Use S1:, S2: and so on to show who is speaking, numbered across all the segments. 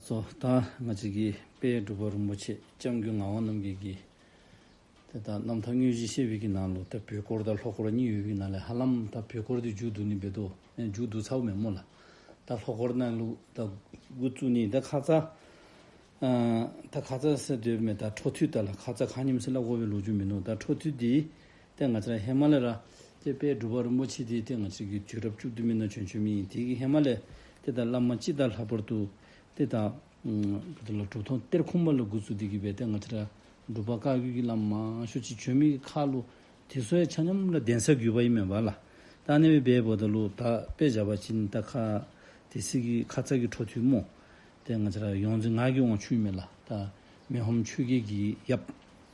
S1: སོ་དང་ང་གཅིག་གིས་དཔལ་སྒྲུབ་པ་རིན་པོ་ཆེ་ལྕམ་སྐུའི་ངག་དབང་རྣམ་རྒྱལ་གྱིས། དེ་དག་རྣམ་ཐར་དངོས་གཞི་བཤད་བྷིད་ཀྱི་ནང་ལུགས་ལྟར་བུའི་སྐོར་དང་ལྷོ་སྐོར་གཉིས་ཡོད་བྷིད་ནང་ལས་ཧ་ལམ་ད་བུའི་སྐོར་དེ་འཇུག་བསྡུ་ནི་འབེལ་དོ་ནས་འཇུག་བསྡུ་ཚ་བོ་མེད་མོད་ལ། ད་ལྷོ་སྐོར་གནང་ལུགས་ད་དགུ་བཅུ་ནི་ད་ཁ་རྩ། ད་ཁ་རྩ་སེ་སྟོད་མེད་ད་ཁྲོ་ཐུལ་ད་ལ་ཁ་རྩ་ཁ་སྙེམས་སེ་ལ་དབོ་བའི་ལོ་རྒྱུས་མི་འདུག་ད་ཁྲོ་ཐུལ་དེའི་སྟེ་ང་ཅག་ཧི་མ་ལ་ར་སྟེ་དཔལ་སྒྲུབ་པ་རིན་པོ་ཆེ་དེའི་སྟེ་ང་ཅག་གིས་དུས་རབས་བཅུ་བདུན་མི་ན་བྱོན་ཆོས་མི་ཡིན་དེ་གིས་ཧི་མ་ལ་སྟེ་དང་བླ་མ་སྤྱི་དང་ལྷག་པར་དུ་སྟེ་དང། གྲུབ་ཐོབ་གཏེར་ཁུང་མ་ལ་དགུ་ཚུགས་དེ་གིས་བས་སྟེ་ང་ཅག་ར་སྒྲུབ་པ་བཀའ་བརྒྱུད་ཀྱི་བླ་མ་མང་ཤོས་ཀྱི་ཆོས་མི་གི་ཁ་ལོ་དེ་ཚོའི་ཆ་སྙོམས་ལ་གདན་ས་བརྒྱུད་པ་ཡིན་མོད་བ་ལ་དང་ནི་བས་སྦས་བོ་དང་ལུག་དག་པས་བྱ་བ་བྱིན་རྟ་ཁ་དེ་སྲིད་ཀྱི་ཁ་ཚ་གི་འཕྲོ་ཐུལ་མོ་སྟེ་ང་ཅག་ར་ཡོངས་འཛིན་ངག་གི་དབང་ཕྱུག་མི་ལ་དང་མི་ཧོམ་ཆོས་རྒྱལ་གྱིས་ཡབ།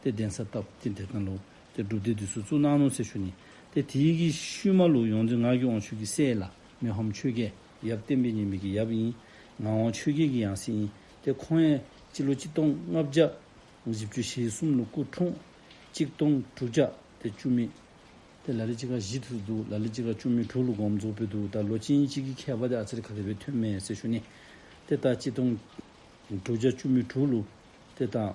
S1: སྟེ་གདན་ས་བཏབ་སྟེ་བདེ་ཐང་ལུགས་སྟེ་སྒྲུབ་སྡེ་འདི་སུ་གཙུག་ན་ནོ་ཚེ་ཤུ་ནི་སྟེ་དེ་ཡི་གེ་ཤུལ་མ་ལུགས་ཡོངས་འཛིན་ངག་གི་དབང་ཕྱུག་གི་སྲས་ལ་མི་ཧོམ་ཆོས་རྒྱལ་ཡབ་བསྟན་པའི་ཉེ་འབུལ་གྱི་ཡབ་ཡིན། ངག་དབང་ཆོས་རྒྱལ་གྱི་ཡང་སྲས་ཡིན་ཏེ་ཁོང་ཡན་སྤྱི་ལོ་གཅིག་སྟོང་ལྔ་བརྒྱ། བཞི་བཅུ་ཞེ་གསུམ་ལོ་སྐུ་འཁྲུངས། གཅིག་སྟོང་དྲུག་བརྒྱ་སྟེ་བཅུ་མེད་སྟེ་ལ་ལི་སྤྱི་ཁ་བཞི་ཐུག་ཏུ་འདུག་ལ་ལི་སྤྱི་ཁ་བཅུ་མེད་དྲུག་ལོ་སྒོམ་རྫོགས་པོད་དུ་ད་ལོ་སྤྱི་ཡིན་གཅིག་གི་མཁས་པ་སྟེ་ཨ་ཙིར་ཁ་ལི་བའི་ཐོན་མའི་ཚེ་ཤུ་ནི་སྟེ་ད་སྤྱི་སྟོང་དྲུག་བརྒྱ་བཅུ་མེད་དྲུག་ལོ་སྟེ་ད།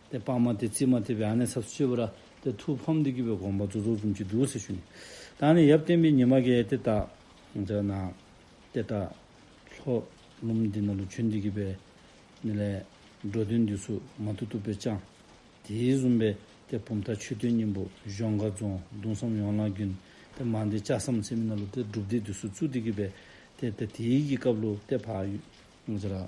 S1: དེ་སྤངས་མ་དེ་རྩིས་མ་དེ་བས་ཨ་ནེ་ཚབས་སུ་སྤྱོད་པ་ར་དེ་ཐུགས་ཕམ་འདི་སྐྱིད་པའི་དགོངས་པ་རྫོགས་རྫོགས་ཙམ་གྱིས་འདུག་ཟེར་ཞུ། ད་ནི་ཡབ་བསྟན་པའི་ཉི་མ་གས་དེ་དག་མཛོད་ན། དེ་དག་ལྷོ་ལུམ་འདི་ན་ལུ་ཆོས་འདི་གི་པའི་ནི་ལས། འགྲོ་དོན་འདི་སུ་མ་ཐུག་ཐུག་པའི་ཅང། དེའི་བཟུང་པས་དེ་བུམ་ཐག་ཆོད་དོན་སྙིང་པོ་གཞོང་ཁ་རྫོང་གདུང་སྲམ་ཡོངས་ལ་རྒྱུན། དེ་མ་འདི་ལྕགས་སམ་ཚེ་མི་ན་ལུ་དེ་སྒྲུབ་སྡེ་འདི་སུ་བཙུགས་འདི་གི་པའི་དེ་དེ་དེའི་གི་སྐབས་ལུ་དེ་བག།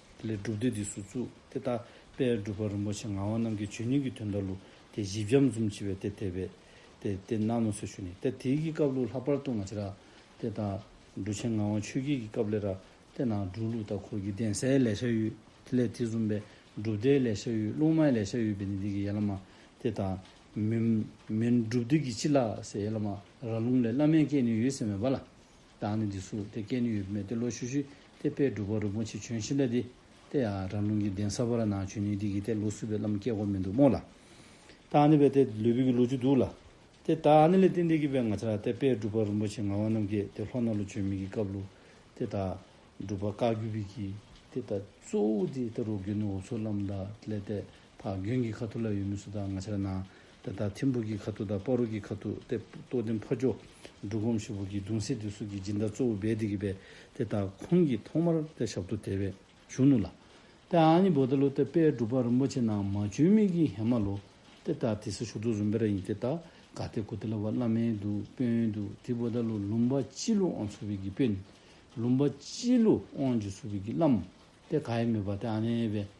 S1: ལས་སྒྲུབ་སྡེ་འདི་སུ་བཙུགས་དེ་ལྟ། དཔལ་སྒྲུབ་པ་རིན་པོ་ཆེ་ངག་དབང་རྣམས་ཀྱིས་ཇོ་ཉིང་གི་དོན་ལྟར་ལུགས་དེ་བཞི་བྱམས་གསུམ་བྱེད་པའི་སྡེ་དེ་བས། དེ་སྟེ་གནའ་མོ་སོ་ཤུ་ནས་ཏེ་དེའི་གི་སྐབས་ལུགས་ལྷག་པར་ཏུ་ང་ཆེ་ར། དེ་དང། འབྲུ་ཆེན་ངག་དབང་ཆོས་རྒྱལ་གྱི་སྐབས་ལས་ར། དེ་ནང་སྒྲུབ་ལུགས་དང་འཁོར་གྱི་གདན་སའི་ལས་བྱ་ཡུལ་དེ་ལས་དེ་བཟུང་བས་སྒྲུབ་སྡེའི་ལས་བྱ་ཡུལ་ལུང་མའི་ལས་བྱ་ཡུལ་བས་ནི་འདི་གི་ཡན་ལག་མ། དེ་དང། མིན། སྒྲུབ་སྡེ་གྱི་སྤྱི་ལ། ཡན་ལག་མ། ར་ལུང་ལས་བླ་མའི་སྐད་ནི་ཡོད་ཟེར་མེད་པ་ལ། བདག་ནི་འདི་སུ་དེ་སྐད་ནི་ཡོད་མེད་དེ་ལོ་ཤུ་ཤུ་དེ་དཔེ་སྒྲུབ་པ་རུ་མོ་ཆེ་བྱོན་ཤི་འདྲ་དེ་ལྟས་ཨ་ར་རླུང་གི་གདན་ས་བོ་ར་ནང་བྱོན་ནི་འདི་གི་དེ་ལོ་སུ་བའི་ལམ་སྐྱེ་གོ་མི་འདུག་མོ་ལ་བདག་ནི་བས་དེ་ལོས་བུ་གི་ལོ་ཅུ་འདུག་ལ་དེ་བདག་ཨ་ནི་ལས་ཏིན་ཏིན་གི་བས་ང་ཆ་ར་དེ་དཔེ་སྒྲུབ་པ་རུ་མོ་ཆེ་ང་བ་རྣམས་ཀྱེ་དེ་ལྷོ་ན་ལོ་བྱོན་མི་གི་སྐབས་ལོ་དེ་བདག་སྒྲུབ་པ་བཀག་རྒྱུ་བི་གི་དེ་ད་གཙོ་བོ་དེ་ད་རོ་གི་ནི་འོ་ཚོ་ལམ་ད་ལས་ཏེ། ཕ་རྒན་གྱི་ཁ་ཐུག་ལ་ཡོད་མི་སུ་དག་ང་ཆ་ལ་ན། དེ་ལྟར་ཐིམ་ཕུག་གི་ཁ་ཐུག་དང་དཔའ་རུ་གི་ཁ་ཐུག་སྟེ་རྟོགས་ལྡན་ཕ་ཇོ། འབྲུག་སྒོམ་ཤོད་ཕུག་གི་གདུང་སྲས་དེ་སུ་གི་སྦྱིན་བདག་གཙོ་བོ་རྦད་དེ་གི་བས་དེ་དག་ཁོང་གིས་ཐོག་མར་སྟེ་ཞབས་ཏུ་དེ་བས་བཞུགས་ནུ་ལ། དེ་ཨ་ནི་བོ་ད་ལོ་སྟེ་དཔལ་སྒྲུབ་པ་རིན་པོ་ཆེ་ནང་མ་བྱོན་མི་གི་ཧེ་མ་ལོ། དེ་དག་དེ་སི་ཞུགས་ཏུ་རུན་པེ་ར་ཡིན་དེ་དག་ག་སྟེ་གུ་ཏི་ལ་བ་བླ་མའི་དུ་དཔོན་དུ་དི་བོ་ད་ལོ་ལུམ་བ་སྤྱི་ལུ་ཨོང་སུ་བི་གི་དཔོན། ལུམ་བ་སྤྱི་ལུ་ཨོང་ཇི་སུ་བི་གི་བླ་མ། དེ་ག་ཡི་མི་བ་དེ་ཨ་ནེ་བས།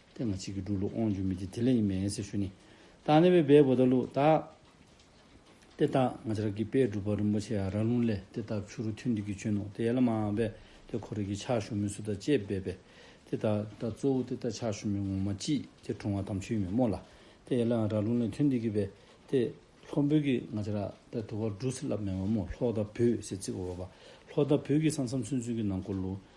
S1: དེ་ང་གཅིག་གིས་འགྲུ་ལུགས་དབང་འཇུག་མི་བགྱི་དེ་ལས་ཡིན་མི་ཡིན་སེ་ཞུ་ནི། ད་ནི་བའི་བའི་བུ་ད་ལུགས་ད། དེ་ལྟ་ང་ཅག་གིས་དཔལ་སྒྲུབ་པ་རིན་པོ་ཆེ་ཡང་ར་ལུང་ལས་དེ་ལྟར་ཆུ་རུ་ཐུན་འདི་གི་གཅུན་ནོ་དེ་ཡལ་ལ་མ་འང་བས་དེ་ཁོ་རེ་གིས་ཕྱག་ཞུ་མི་སུ་དང་བཅས་སྦས་པས། དེ་ལྟ་ད་གཙོ་བོ་དེ་ལྟར་ཕྱག་ཞུ་མི་ངོ་མ་ཅིས་དེ་དྲོང་བ་དམ་ཆོས་མི་སྨོ་ལ། དེ་ཡལ་ལ་འང་ར་ལུང་ལས་ཐུན་འདི་གི་བས་དེ། ལྷོ་འབོད་ཀྱིས་ང་ཅག་ར་ད་དུ་བར་འགྲུ་སེ་ལབ་མི་འོང་མོ་ལྷོ་ད་བོས་སེ་ཙིག་བ་བ་བ། ལྷོ་ད་བོས་ཀྱིས་སང་སང་ཚུན་ཚུན་གྱི་ནང་སྐོར་ལུགས།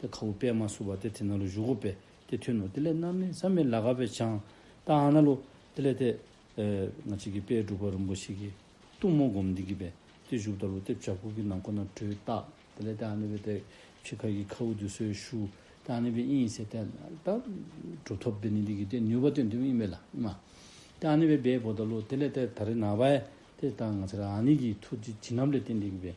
S1: དེ་ཁ་བུ་པད་མ་བསུ་བ་སྟེ་དེ་ན་ལོ་བཞུགས་གོ་པས་དེ་མཐུན་ནོ་དེ་ལས་རྣམ་སྨིན་བསམ་མེད་ལ་ག་བས་བྱང་བཏགས་ཨ་ན་ལོ་དེ་ལས་དེ། ང་ཅིག་གིས་དཔལ་སྒྲུབ་པ་རིན་པོ་ཆེ་གི་གཏུམ་མོ་སྒོམ་འདི་གི་བས་དེ་བཞུགས་ལྟ་ལོ་དེ་བྱ་ཕུག་གི་ནང་ཁོ་ན་བྲོས་བཏགས་དེ་ལས་དེ་ཨ་ན་བས་དེ་ཆུ་ཁ་གི་ཁ་བུ་དུ་སོའི་ཤུ་དེ་ཨ་ན་བས་དབྱིངས་ཡིན་ཟེར་དེ་ད་གྲུབ་ཐོབ་དེ་ནི་འདི་གི་དེ་ནུས་པ་དེ་འདུན་དབྱིངས་མེད་ལ་ཨ་དེ་ཨ་ན་བས་སྦས་བོ་ད་ལོ་དེ་ལས་དེ་ད་རི་ན་བས་དེ་ད་ང་ཚར་ཨ་ནི་གི་ཐུགས་ཀྱི་བྱིན་རླབས་ལས་དེ་འདི་གི་བས་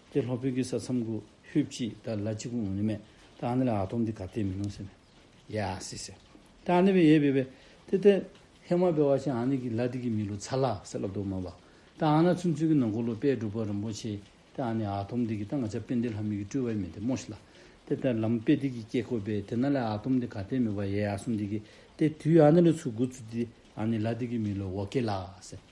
S1: དེ་ལྷོ་བོད་ཀྱི་ས་མཚམས་གུ་ཧུད་ཀྱིས་ད་ལ་ཅི་གུ་ངོ་ནི་མེད་ད་ཨ་ནི་ལ་ཨ་ཐོམ་དེ་ག་བལྟས་མིན་ནོ་ཟེར་ནས་ཡ་ཟེ་ཟེར་དེ་ཨ་ནི་བས་ཡས་བས་བས་དེ་དེ་ཧེ་མ་བས་བ་ཆེན་ཨ་ནི་གི་ལ་དེ་གི་མི་ལོ་ཚ་ལ་ཟེར་ལ་དོ་མ་བ་དེ་ཨ་ན་ཚུན་ཚུན་གི་ནང་གུ་ལོ་པས་སྒྲུབ་པ་རིན་པོ་ཆེ་དེ་ཨ་ནི་ཨ་ཐོམ་དེ་གི་ད་ང་ཆ་པས་འདི་ལྷ་མི་གི་སྤྲུལ་བས་མེད་དེ་མོ་ཤི་ལ་དེ་དེ་ལམ་པས་དེ་གི་སྐྱེ་ཁོ་བས་དེ་ན་ལ་ཨ་ཐོམ་དེ་ག་བལྟས་མི་བ་ཡས་ཨ་སུམ་དེ་གི་དེ་དུས་ཨ་ནི་ལ་ཚུ་གུ་ཚུ་དེ་ཨ་ནི་ལ་དེ་གི་མི་ལོ་བོ་ཀེ་ལ་ཟེར།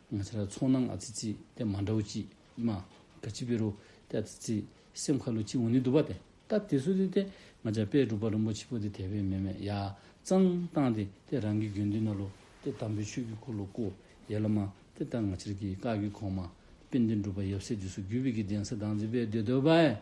S1: ང་ཚོ་ལ་ཚོང་ན་ང་ཚི་ཚི་དེ་མ་འདྲ་བོ་ཅི་མ་ག་ཅི་བེ་རུ་ཏའ་ཚི་ཚི་སེམས་ཁ་ལུ་ཅི་འུ་ནི་དུ་བ་དེ་ད་དེ་ཚུ་དེ་དེ་ང་ཅག་པས་སྒྲུབ་པ་རིན་པོ་ཆི་པོ་དེ་དེ་བེ་མེ་མེ་ཡ་ཙང་བཏང་དེ་དེ་རང་གི་རྒྱུན་མདུན་ན་ལུ་དེ་དམ་པོའི་ཆོས་ཀི་སྐུ་ལུ་སྐུ་ཡེ་ལ་མ་དེ་ད་ང་ཆིར་གི་ཀ་གི་གོང་མ་པེ་འདི་འགྲུབ་པ་ཡབ་སྲས་དུས་སུ་རྒྱུད་བི་གི་གདན་ས་དང་ཚི་བེ་དེ་དོ་བ་ཨེ་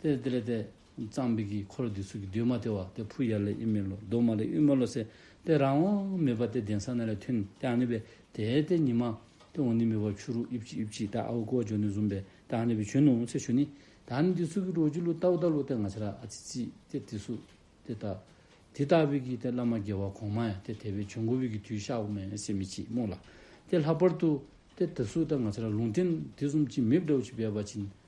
S1: དེ་དེ་ལེ་དེ། གཙང་སྦིག་གིས་འཁོར་འདི་ཚུགས་ཀྱི་འདུས་མ་དེ་བ་སྟེ་ཕུ་ཡར་ལས་དབྱིབས་མེ་ལོ་གདོང་མ་ལས་དབྱིབས་མེ་ལོ་སེ་སྟེ་རང་དབང་མེད་པ་སྟེ་གདན་ས་ན་ལས་ཐུན་རྐྱང་ནི་བས་དེ་སྟེ་ཉི་མ་སྟེ་འོ་ནི་མེ་བ་ཆུ་རུ་དབྱིབས་ཀྱི་དབྱིབས་ཀྱི་ད་ཨའུ་ཀོ་ཇོ་ནི་ཟུམ་པའི་ད་ནི་བས་ཆུ་ནི་འོང་ཚེ་ཆུ་ནི་ད་ནི་འདི་ཚུགས་ཀྱི་རོ་གྱི་ལུ་ཏའུ་ད་ལུ་སྟེ་ང་ཆ་ར་ཨ་ཙི་ཙི་སྟེ་དེ་སུ་སྟེ་ད་དེ་ལྟ་བུས་ཀྱི་སྟེ་བླ་མ་རྒྱལ་བ་གོང་མ་ཡང་སྟེ་དེ་བས་བྱུང་གོ་བུས་ཀྱི་དུས་ཤ་བོ་མེ་སེ་མི་ཅི་སྨོས་ལ་སྟེ་ལྷག་པར་དུ་སྟེ་དེ་སུ་སྟེ་ང་ཆ་ར་ལུང་བསྟན་དེ་གསུམ་གྱིས་མིབ་དྲའུ་ཅི་བས་པ་བྱིན་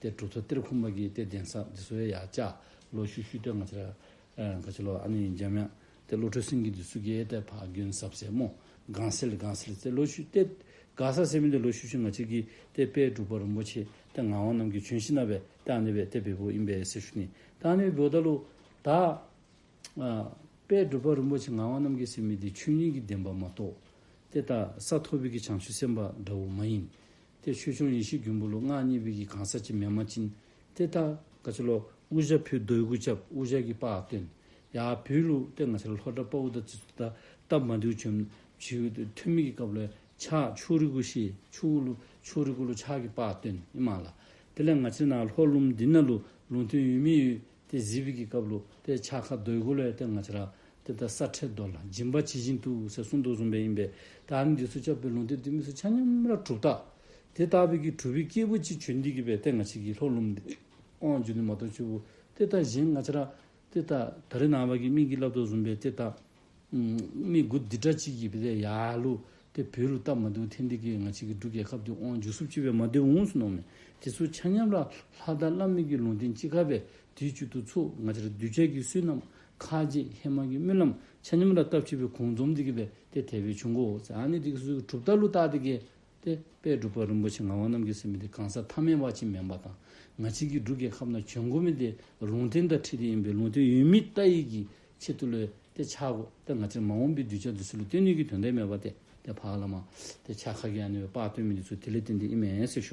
S1: ཏེ་གྲུ་ཐོད་གཏེར་ཁུག་མ་གིས་ཏེ་གདན་ས་འདི་སུ་ཡ་ཡ་བཅའ་ལོ་ཤུ་ཤུ་ཏེ་ང་ཅི་ར་ག་ཅི་ལོ་ཨ་ནི་འཇམ་དབྱངས་ཏེ་བློ་གྲོས་སེང་གིས་འདི་སུ་གེ་ཏེ་ཕ་གིན་ཟབ་སེ་མོ་གང་སེལ་གང་སེལ་ཏེ་ལོ་ཤུ་ཏེ་ག་ས་སེ་མི་ཏེ་ལོ་ཤུ་ཤུ་ང་ཅི་གིས་ཏེ་དཔལ་སྒྲུབ་པ་རིན་པོ་ཆེ་ཏེ་ངག་དབང་རྣམས་ཀྱིས་བྱོན་ཤི་ན་བས་ཏེ་ཨ་ནི་བས་ཏེ་བེ་བོ་ཨིན་བས་སེ་ཤུ་ནི་ཏེ་ཨ་ནི་བས་བེ་བོ་ད་ལུ་ད་དཔལ་སྒྲུབ་པ་རིན་པོ་ཆེ་ངག་དབང་རྣམས་ཀྱིས་སེ་མི་ཏེ་ཆོས་ཉིད་ཀྱི་བདེན་པ་མ་གཏོགས་ཏེ་ད་ས་ཐོ་བི་གི་བྱང་ཆུབ་སེམས་དཔའ་འདྲ་བོ་མ་ཡིན་དེ་ཆོས་འབྱུང་ཡེ་ཤེས་རྒྱུན་བུ་ལུགས་སྔགས་གཉིས་པོ་ཡི་གང་ཟག་ཅི་མེ་མ་སྤྱིན། དེ་ལྟ། ག་ཆ་ལོ། དབུ་ཞྭ་ཕུའི་རྡོའི་གུར་ཆབ་དབུ་ཞྭ་གི་པགས་སྟོན། ཡ། བུའི་ལུགས་ལྟེ་ང་ཆ་ལ་ལྷོ་བྲག་དཔའ་བོ་དང་རྩི་ཚུལ་ལྟར་བཏབ་མ་འདུལ་བྱོན། ཐུན་མིན་གྱི་སྐབས་ལ། ཕྱག་ཕྱུག་རི་གུ་ཤེས་ཕྱུག་དབུ་ལུགས་ཕྱུག་རི་གུ་ལུགས་ཕྱག་གི་པགས་སྟོན་ཨི་མ་ལ། དེ་ལས་ང་ཆ་ན་ལྷོ་ཀླུང་མདུན་ན་ལུགས་ལུང་ཐུན་ཡུལ་མི་ཡུལ་ཏེ་གཟི་བིག་གི་སྐབས་ལུགས་ཏེ་ཆ་ཁ་རྡོའི་གུ་ལའི་སྟེང་ང་ཆ་ར་ཏེ་ད་ས་ཁྲེ་རྡོ་ལ་སྦྱིན་པ་ཇི་བཞིན་དུ་ཟེར་གསུངས་འདུག་གསུངས་པས་ཡིན་པས་ད་ནི་འདི་ཚོ་བཅའ་བུའི་ལུང་སྡེ་འདི་མི་སུ་ཆ་མཉམ་ར་གྲུབ་རྟགས་དེ་ལྟ་བུ་གི་གྲུ་བི་སྐྱེས་བུ་གཅིག་ཆོས་འདི་གི་བའི་སྟེང་ང་ཆི་གི་ལྷོ་ལུམ་ཏེ་དབང་བཅུ་ནི་མ་གཏོགས་ཆུ་བོ་ཏེ་ད་གཞན་ང་ཆ་ར་ཏེ་ད་ད་རི་ནང་བ་གི་སྨིན་གི་བསླབ་ཏོ་གསུངས་པས་ཏེ་ད་མི་དགུ་འདི་འདྲ་གཅིག་ཡིབ་པས་ཡ་ལུ། དེ་བོད་རུ་སྟབས་མ་འདུག་ཐེངས་འདི་གི་ང་གཅིག་གི་འབྲུ་རྒྱལ་ཁབ་དུ་དབང་འཇུག་སུབ་ཆེ་བས་མ་འདུལ་འོངས་སུ་ནོངས་མེད་དེ་ཚོ་ཆ་མཉམ་ལ་ལྷ་དར་བླ་མེད་ཀྱི་ལུང་བསྟན་ཅི་ག་བས་དེའི་བཅུད་དུ་ཚུགས་ང་ཅར་གདུལ་བྱ་ཀྱི་བསོད་ནམས་ཁ་རྗེ་ཧེ་མ་གི་སྨོན་ལམ་ཆ་མཉམ་ལ་སྟབས་ཆེ་བས་གུང་འཛོམས་འདི་གི་བས་དེ་དལ་བའི་ཆུ་མགོ་བོ་ཙནི་དེ་གི་སུ་གྲུབ་ལྟར་ལུ་སྟག་དེ་གི། ཏེ། དཔལ་སྒྲུབ་པ་རིན་པོ་ཆེ་ངག་དབང་རྣམ་རྒྱལ་སྲས་མི་དེ་གང་ཟག་ཐ་མའི་བ་ཆེན་མེ་འབར་དང་ང་གཅིག་གིས་འབྲུག་རྒྱལ་ཁབ་ན་བྱོན་གོ་མི་དེ་ལུང་བསྟན་དང་ཁྲིད་དེ་ཡིན་པས་ལུང་བསྟན་ཡུལ་མི་རྟ་ཡིག་གི་ཆེད་དུ་ལོས་ཏེ་ཆ་གོ་ཏེ་ང་ཅིར་མ་འོངས་པའི་གདུལ་བྱ་འདི་སུ་ལ་བསྟན་ནུས་ཀྱི་དོན་དེ་མེད་པ་སྟེ་དེ་བག་ལ་མ། ཏེ་ཆ་ག་གི་ཡང་ནི་བའི་དཔག་དོན་མི་འདི་ཚུལ་དེ་ལས་བསྟན་ཏེ་ཨི་མའི་སྲས་ཞུ།